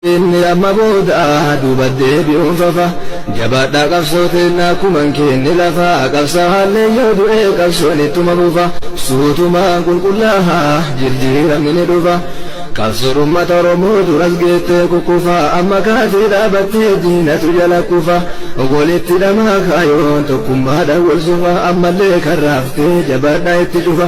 Inni amma booda duuba deebi'uun fafa Jabaadhaa qabsoo teenna akkuma hin keenne lafa Qabsaa'aalleen yoo du'e qabsoon ittuma fufa Suutumaan qulqullaaha jirjiiramni ni dhufa Qabsoon ummata Oromoo duras geettee kukkufa Amma kaatee dhaabattee diinatu jala kufa Walitti dhamaa kaayoon tokkummaadhaan wal sufa Ammallee karra haftee jabaadhaa itti cufa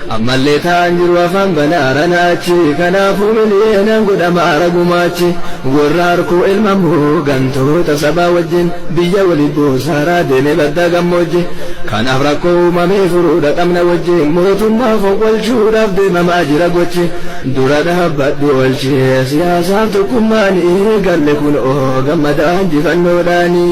Ammallee taa'aan jiru afaan bana arana achi Kanaafuu miliyeenaan godhama ara gumaachi Warra harkoo ilmammoo gantoota sabaa wajjin Biyya waliif buusa haraa deeme baddaa gammoojji Kanaaf rakkoo uumamee furuudha qabna wajji Mootummaa fonqolchuudhaaf deemamaa jira gochi Dura dhaabbadhu oolchi siyaasaaf tokkummaan Eegalle kunoo gammadaa injifannoodhaani.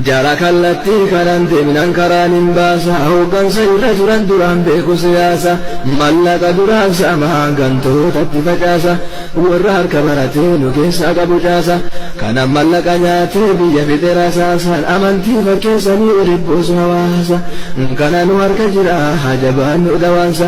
Jara kallattii kanaan deemnaan karaan hin baasa Hooggansa irra turan duraan beeku siyaasa Mallaqa duraan saamaa gantootatti facaasa Warra harka maratee nu keessaa qabu caasa Kana mallaqa nyaatee biyya fixe rasaasa Amantii fakkeessanii walitti buusu hawaasa Kana nu harka jira haa jabaannu dhawaansa